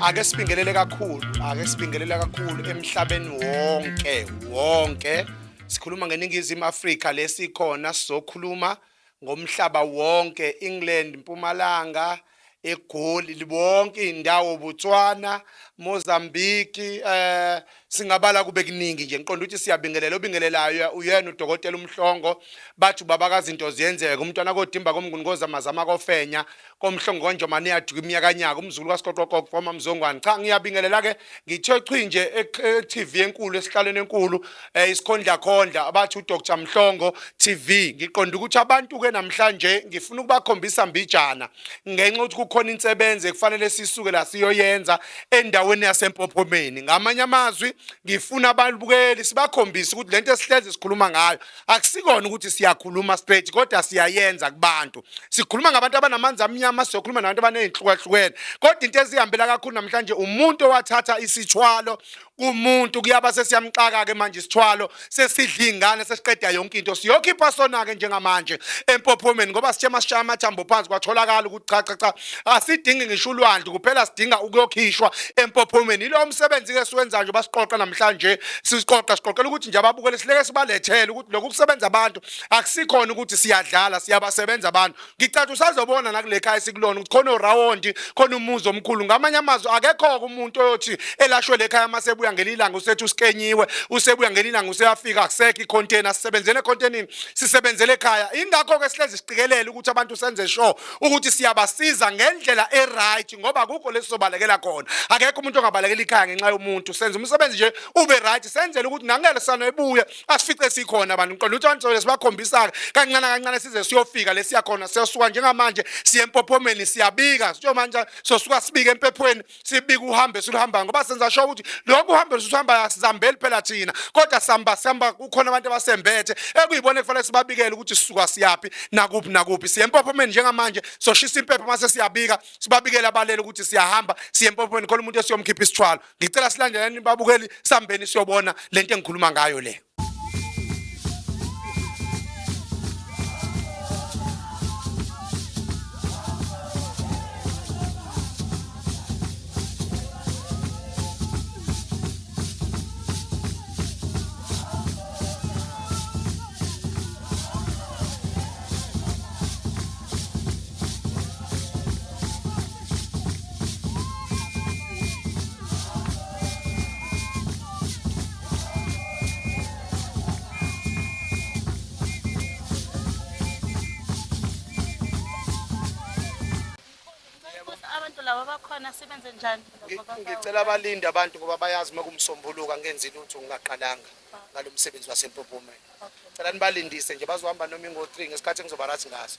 ake sibingelele kakhulu ake sibingelele kakhulu emhlabeni wonke wonke sikhuluma ngeningizimu Afrika lesikhona sizokhuluma ngomhlaba wonke England Mpumalanga egoli libonke indawo Botswana Mozambique eh singabala kube kuningi nje ngiqonda ukuthi siyabingelela obingelelayo uyena udokotela umhlongo bathi ubaba kazinto ziyenzeka umntwana kodimba komnguni kozamazama kofenya komhlongo konjomane yadika imiyakanyaka umzukulu kasiqoqoqoqo foma mzongwane cha ngiyabingelela ke ngithe chwi nje e-tv enkulu esihlalweni enkulu um eh, isikhondlakhondla abathi udr mhlongo tv ngiqonda ukuthi abantu-ke namhlanje ngifuna ukubakhombisa mbijana ngenxa yokuthi kukhona insebenzi ekufanele sisuke la siyoyenza endaweni yasempophomeni ngamanye amazwi ngifuna abalibukeli sibakhombise ukuthi lento esihleze sikhuluma ngayo akusikona ukuthi siyakhuluma straight kodwa siyayenza kubantu sikhuluma ngabantu abanamanzi amnyama siyokhuluma nabantu abanezinhlukahlukene kodwa into ezihambela kakhulu namhlanje umuntu owathatha isithwalo kumuntu kuyaba sesiyamxaka-ke manje isithwalo sesidla iy'ngane sesiqeda yonke into siyokhipha sona-ke njengamanje empophomeni ngoba sithe masishaya amathambo phansi kwatholakala ukuthi cha cha cha asidingi ngisho ulwandle kuphela sidinga ukuyokhishwa empophomeni yilowo msebenzi-ke siwenzayo nje basiqoqa namhlanje siqoqa siqoqela ukuthi nje ababukele sileke sibalethele ukuthi lokhu kusebenza abantu akusikhona ukuthi siyadlala siyabasebenza abantu ngicathi usazobona nakulekhaya esikulona ukuthi khona orawondi khona umuzi omkhulu ngamanye amazwi akekho-ke umuntu oyothi elashwe lekhaya uma sebuya ngelilanga usethi usikenyiwe usebuya ngelilanga useyafika akusekho ikhontena sisebenzele ekhontenini sisebenzele ekhaya ingakho-ke sihlezi siqikelele ukuthi abantu senze sure ukuthi siyabasiza ngendlela e-right ngoba kukho lesi sobalekela khona akekho umuntu ongabalekela ikhaya ngenxa yomuntu senza umsebenzi nje ube right senzele ukuthi nangele sanoyibuye asifice sikhona abantu ngiqonda ukuthi abantu sobe sibakhombisa-ke kancane kancane size siyofika lesiya khona siyosuka njengamanje siye empophomeni siyabika sitsho manje sosuka sibike empephweni sibike uhambe siluhambayo ngoba senza sho ukuthi lokhu uhambe lusuhambayo asizambeli phela thina kodwa sihamba sihamba kukhona abantu abasembethe ekuyibona ekufanele sibabikele ukuthi sisuka siyaphi nakuphi nakuphi siye empophomeni njengamanje soshisa impepho mase siyabika sibabikele abalele ukuthi siyahamba siye empophomeni khona umuntu esiyomkhipha isithwalo ngicela silandelani babukeli sambeni siyobona lento engikhuluma ngayo le ngicela abalinde abantu ngoba bayazi uma kumsombuluka ngenzi lutho ngingaqalanga ngalo msebenzi wasempophomeni cela nibalindise nje bazohamba noma ingo-three ngesikhathi engizobarathi ngaso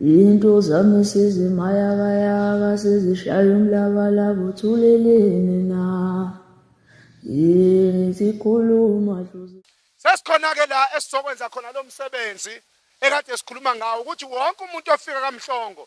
Into zami sezimayakayaka sezishaya umlabalaba uthuleleni na yini zikhuluma dlozi Sesikhona-ke la esizokwenza khona lo msebenzi ekade sikhuluma ngawo ukuthi wonke umuntu ofika kamhlongo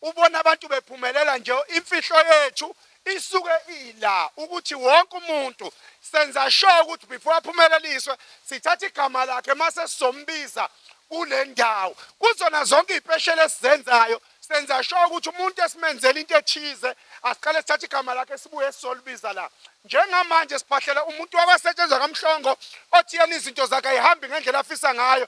ubona abantu bephumelela nje imfihlo yethu isuke ila ukuthi wonke umuntu senza sure ukuthi before aphumeleliswe sithatha igama lakhe mase sizombiza kule ndawo kuzona zonke iy'pesheli esizenzayo senza sure ukuthi umuntu esimenzela into ethize asiqale sithathe igama lakhe sibuye sizolibiza la njengamanje siphahlela umuntu wabasetshenzwa kamhlongo othi yena izinto zakhe ayihambi ngendlela afisa ngayo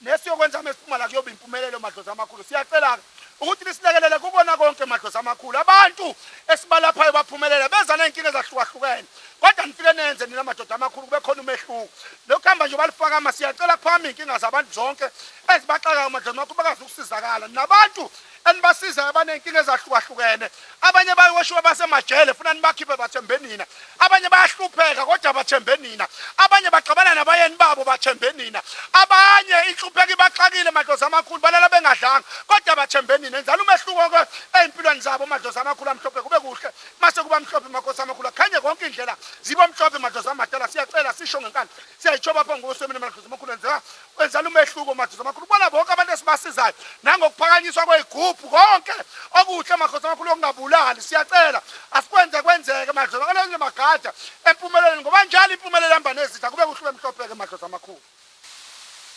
Nesiyokwenza uma siphuma la kuyoba impumelelo madlozi amakhulu. Siyacela-ke ukuthi nisilekelele kukona konke madlozi amakhulu. Abantu esibalaphayo baphumelele beza ney'nkinga ezahlukahlukene. Kodwa nifike nenze nina madoda amakhulu kube khona umehluko. Lokhu hamba nje balifakama siyacela kuphakama iy'nkinga zabantu zonke ezibaxakayo madlozi amakhulu bakwazi ukusizakala. Nabantu enibasizayo abaney'nkinga ezahlukahlukene abanye bayoshiwa basemajele funa nibakhiphe bathembe nina abanye bayahlupheka kodwa bathembe nina abanye baxabana nabayeni babo bathembe nina abanye inhlupheko ibaxakile madlozi amakhulu balala bengadlanga kodwa bathembe nina enzani umehluko-ke ey'mpilweni zabo madlozi amakhulu amhlophe kube kuhle mase kuba mhlophe makosi amakhulu akhanye konke indlela zibo mhlophe madlozi amadala siyacela sisho ngenkani siyayitshoba phambi kosemini madlozi amakhulu enzeka Wenzela umehluko Madlozi amakhulu. Ubona bonke abantu esibasizayo nangokuphakanyiswa kwezigubhu konke okuhle Madlozi amakhulu okungabulali. Siyacela asikwenze kwenzeke Madlozi akalenze magada empumelelweni ngoba njalo impumelelo ihamba nezitha kube kuhle bemhlopheke Madlozi amakhulu.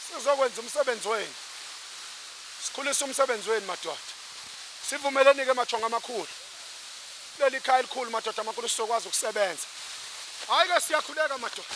Sizokwenza umsebenzi wenu. Sikhulisa umsebenzi wenu madoda. Sivumeleni ke mathonga amakhulu. Leli khaya elikhulu madoda amakhulu sizokwazi ukusebenza. Hayi ke siyakhuleka madoda.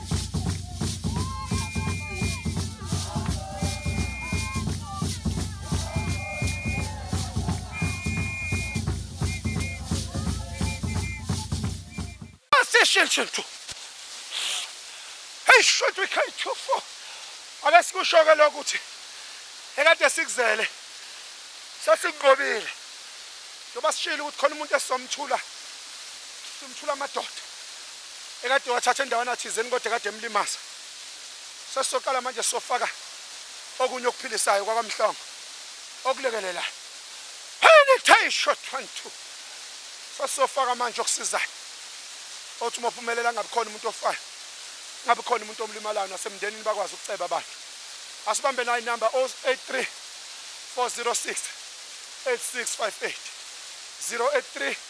Shintshinthu. Hey shot we can't go for. Ake sikushoke lokho ukuthi ekade sikuzele sesinqobile. Njengoba sishilo ukuthi khona umuntu esizomthula. Simthula amadoda. ekade wathatha endawana thizeni kodwa kade emlimaza sesizoqala manje sofaka okunye okuphilisayo kwakwamhlongo okulekelelayo penetration one two sesizofaka manje okusizayo othi uma uphumelela angabi khona umuntu ofayo ngabe khona umuntu omlimalayo nasemndenini bakwazi ukuceba abantu asibambe nayo inamba 083 406 8658 083